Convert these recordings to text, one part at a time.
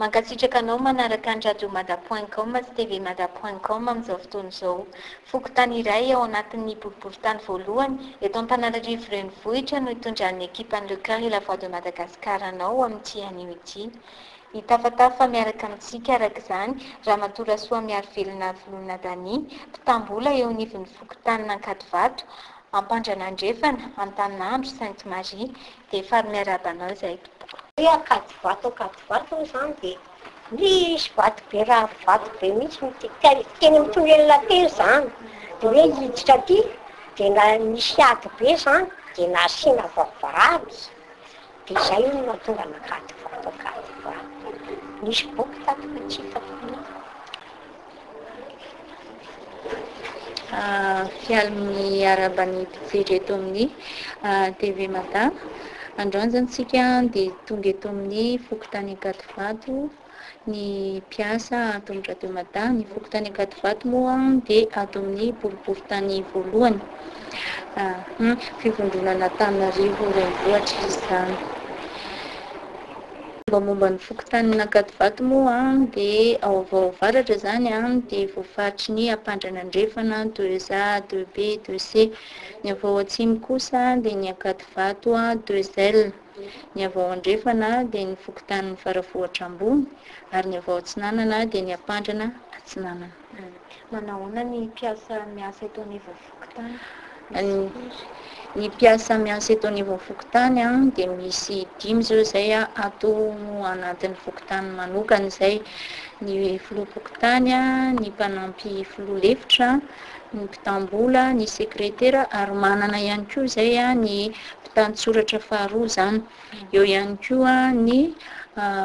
Mankasitraka anao manaraka ny radio mada point com sy TV mada point com amin'izao fotoana izao. Fokontany iray ao anatin'ny boriborintany voalohany eto Antananarivo renivohitra no itondran'ny ekipan'ny Le Coeur et la Voix de Madagascar anao amin'ity anio ity. Hitafatafa miaraka amintsika araka izany Ramatoa Rasoamiarivelona Volona Dany, mpitam-bola eo anivon'ny fokontanin'Ankadivato, Ampandranandrefana, Antaninandro, Sainte Marie. Dia faly miarahaba anao izahay tompoko. Hoe akady vato akady vato hoy izany dia nisy vato be rary vato be mihitsy nitety teny amin'ny tonelina teny izany dia hoe hiditra aty dia na nisy ady be izany dia nasiana vavahady dia izay hono no nahatonga an'akady vato akady vato nisy boky tato fa tsy hitako mihitsy Mpialy miarahaba ny mpijery eto amin'ny TV Mada. Androany zany tsika dia tonga eto amin'ny fokontany Ankadivato ny mpiasa ato amin'ny Radio Mada. Ny fokontany Ankadivato moa dia ato amin'ny boriborintany voalohany. Fivondronana Antananarivo renivohitra izany. Mombamomba ny fokontanin' Ankadivato moa dia ao Avaovaratra izany dia voafaritry ny Ampandrana Andrefana, deux A, deux B, deux C. Ny avy ao Atsimo kosa dia ny Ankadivato, deux L. Ny avy ao Andrefana dia ny fokontanin' ny Faravohitra Ambony ary ny avy ao Atsinanana dia ny Ampandrana Atsinanana. Manahoana ny mpiasa miasa eto anivon'ny fokontany? Ny mpiasa miasa eto anivon'ny fokontany dia misy dimy izao izay ato anatin'ny fokontany manokana izay. Ny filoham-pokontany, ny mpanampy filoha lefitra, ny mpitam-bola, ny sekretera ary manana ihany koa izay ny mpitantsoratra faharoa izany. Eo ihany koa ny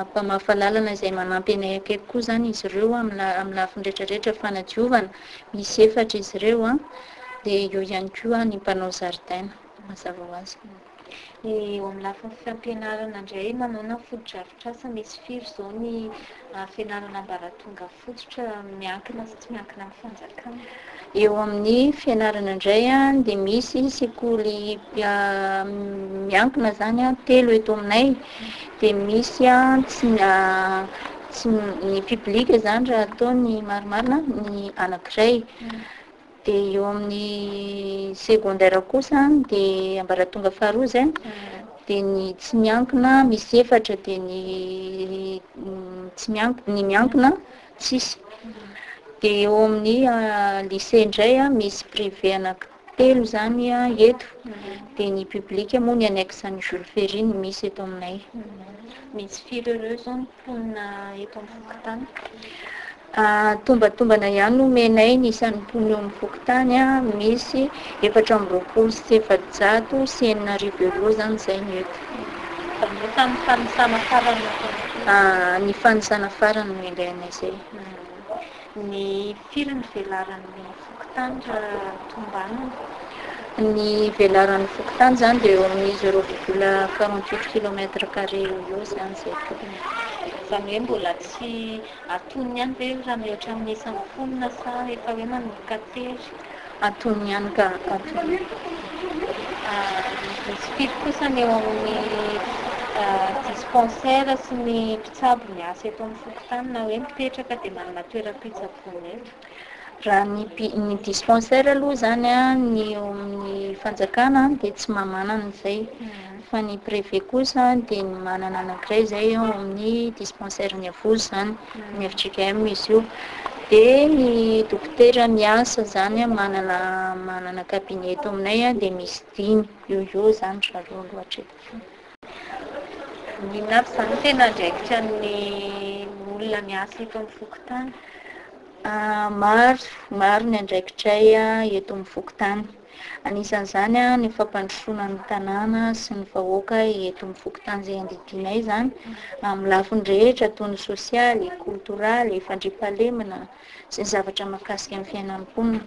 mpamafa lalana izay manampy anay akaiky koa izany izy ireo amin'ny lafiny rehetra rehetra fanadiovana, misy efatra izy ireo an, dia eo ihany koa ny mpanao zaridaina mazava ho azy. Eo amin'ny lafiny fampianarana indray, manaona ny fotodrafitrasa misy firy izao ny fianarana ambaratonga. fototra miankina sy tsy miankina amin'ny fanjakana. Eo amin'ny fianarana indray dia misy sekoly miankina zany a telo eto aminay dia misy a tsy tsy ny public zany raha atao ny marimarina ny anankiray Dia eo amin'ny secondaire kosa dia ambaratonga faharoa izay dia ny tsy miankina misy efatra dia ny tsy miankina ny miankina tsisy dia eo amin'ny lycée indray misy privé anaky telo izany eto dia ny public moa ny annexe an'i Jules Ferry no misy eto aminay misy firy ireo izao mponina eto amin'ny fokontany. Tombatombana ihany no omenay ny isan'ny mponina eo amin'ny fokontany. Misy efatra amby roapolo sy efajato sy enina arivo euros izany izay no eto. Manomboka amin'ny fanisana farany. Ny fanisana farany no indray anay izay. Ny firy ny velaran'ny fokontany raha tombanana? Ny velaran'ny fokontany izany dia eo amin'ny zéro virgule quarante huit kilomètre carré eo ho eo izany izay tokony. Izany hoe mbola tsy antonony ihany ve raha mihoatra amin'ny isan'ny mponina sa efa hoe manomboka tery? Antonony ihany ka, antonony. Misy firy kosa ny eo amin'ny dispensaires sy ny mpitsabo ny asa eto amin'ny fokontany na hoe mipetraka dia manana toeram-pitsaboana eto. Raha ny ny dispensaire aloha izany ny eo amin'ny fanjakana dia tsy maha manana izay mhm. fa ny préfet kosa dia ny manana anankiray izay eo amin'ny dispensaire ny avozy izany mhm. ny FJKM izy io dia ny dokotera miasa izany manana manana cabinet eto aminay dia misy dimy eo eo izany raha roa loatra eto Maninona avy izany no tena andraikitra ny olona miasa eto amin'ny fokontany? Maro, maro ny andraikitray eto amin'ny fokontany. Anisan'izany ny fampandrosoana ny tanàna sy ny vahoaka eto amin'ny fokontany izay andidianay izany, amin'ny lafiny rehetra toy ny sosialy, koltoraly, fandriampahalemana, sy ny zavatra mahakasika ny fiainan'ny mponina.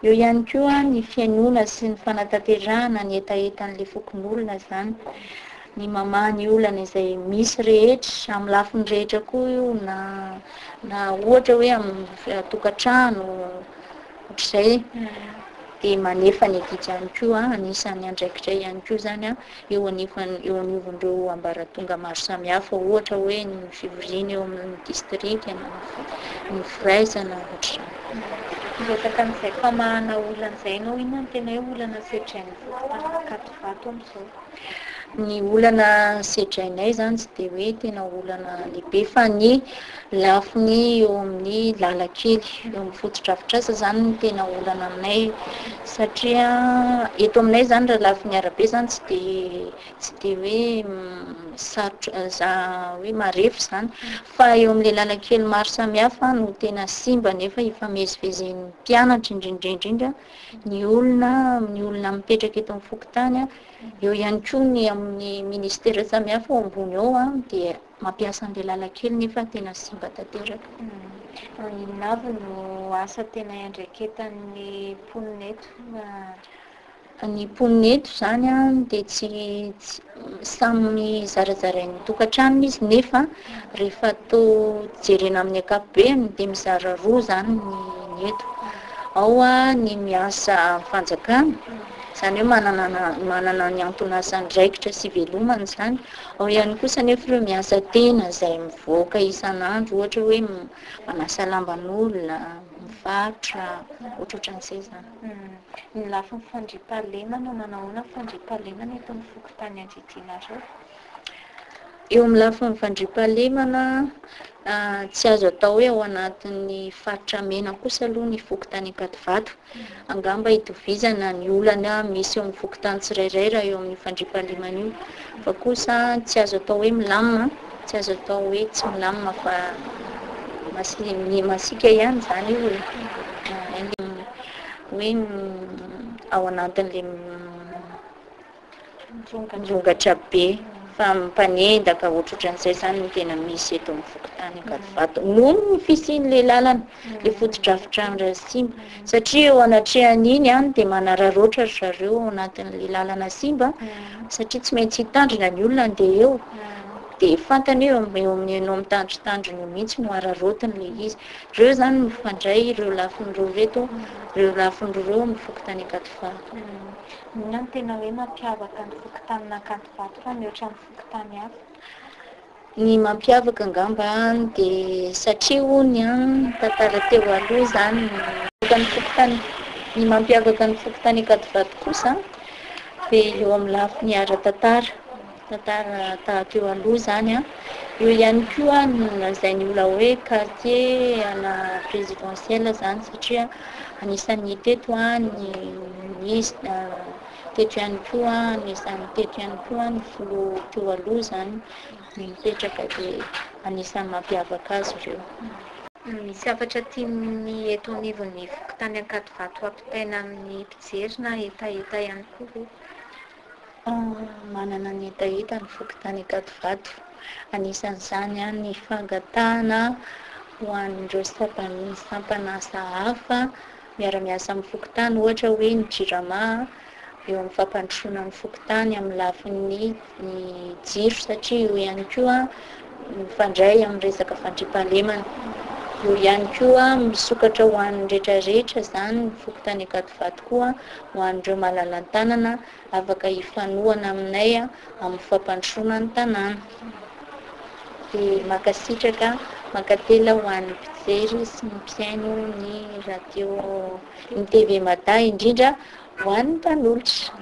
Eo ihany koa ny fihainoana sy ny fanatanterahana ny hetahetan'ilay fokonolona izany, ny mamaha ny olana izay misy rehetra, amin'ny lafiny rehetra koa io na na ohatra hoe amin'ny eh, tokantrano ohatr'izay dia manefa ny adidy ihany koa, anisan'ny andraikitra ihany koa izany eo anivon'ny eo anivon'ireo ambaratonga maro samihafa, ohatra hoe ny fivoriana eo amin'ny distrika na ny firaisana, ohatr'izany. Miresaka an'izay famahana olana izay ianao, inona no tena hoe olana sedrain'ny mpanankatovato amin'izao? Ny olana sedrainay izany tsy dia hoe tena olana lehibe fa ny Lafiny eo amin'ny lalan-kely, eo amin'ny fotodrafitrasa izany no tena olana aminay satria eto aminay izany raha lafiny arabe izany tsy dia tsy dia hoe sarotra za- hoe marefo izany fa eo amin'ilay lalan-kely maro samihafa no tena simba nefa ifamezivezen'ny mpianatra indrindra indrindra ny olona amin'ny olona mipetraka eto amin'ny fokontany, eo ihany koa ny amin'ny ministera samihafa ao ambony ao dia Mampiasa an'ilay lalan-kely nefa tena simba tanteraka. Inona avy no asa tena iandraiketan'ny mponina eto? Ny mponina eto izany dia tsy samy zarazarain'ny tokantranony izy nefa rehefa to jerena amin'ny ankapobeny dia mizara roa izany ny eto. Ao ny miasa fanjakana, izany hoe manana ny anton'asany raikitra sy velomany izany. Ao ihany kosa anefa ireo miasa tena izay mivoaka isan'andro ohatra hoe manasa lamban'olona, mivarotra, ohatrohatran'izay izany. Hmm. Ny lafiny fandriampahalemana, manao ahoana ny fandriampahalemana eto amin'ny fokontany adidianareo? Eo amin'ny lafiny fandriampahalemana, ah, tsy azo atao hoe ao anatin'ny faritra mena kosa aloha ny fokontany Ankadivato Angamba hitovizana ny olana misy eo amin'ny fokontany tsirairay raha eo amin'io fandriampahalemana io. Fa kosa tsy azo atao hoe milamina, tsy azo atao hoe tsy milamina fa masi- masiaka ihany izany io e. Hoe ao anatin'ilay Mirongondrongatra be fa mpanendaka ohatrohatran'izay izany no tena misy eto amin'ny fokontany Ankadivato noho ny fisian'ilay lalana ilay fotodrafitrano iray simba satria eo anatrehan'iny any dia manararaotra ry zareo ao anatin'ilay lalana simba satria tsy maintsy hitandrina ny olona andeha eo dia fantany eo eo amin'ny anao mitandritandrina eo mihitsy no araraotiny ilay izy ireo izany mifandray ireo lafiny roa ireto ireo lafiny roa amin'ny fokontany Ankadivato Inona no tena hoe mampiavaka ny fokontanin'Ankadivato fa mihoatra ny fokontany hafa? Ny mampiavaka angamba dia satria hono ny tantara teo aloha izany no. Ny fokontany, ny mampiavaka ny fokontany Ankadivato kosa dia eo amin'ny lafiny ara-tantara. Tantara taha teo aloha izany an. Eo ihany koa no nolazain'ny olona hoe quartier à la présidentielle izany satria anisan'ny teto ny ministre, teto ihany koa anisan'ny teto ihany koa ny filoha teo aloha izany no mipetraka dia anisan'ny mampiavaka azy ireo. Misy hafatra tian'ny eto anivon'ny fokontany Ankadivato hampitaina amin'ny mpijery na hetaheta ihany koa ve? Manana ny hetaheta ny fokontany Ankadivato, anisan'izany ny fangatahana ho an'ireo sampam-bonin'ny sampan'asa hafa miara-miasa amin'ny fokontany, ohatra hoe ny Jirama, eo amin'ny fampandrosoana ny fokontany amin'ny lafiny jiro satria io ihany koa mifandray amin'ny resaka fandriampahalemana. Eo ihany koa, misokatra ho an'ny rehetra rehetra izany ny fokontany Ankadivato koa ho an'ireo malala-tanana afaka hifanohana aminay amin'ny fampandrosoana ny tanàna. Dia mankasitraka, mankatelina ho an'ny mpijery sy ny mpihaino ny radio, ny TV Mada indrindra ho an'ny mpanolotra.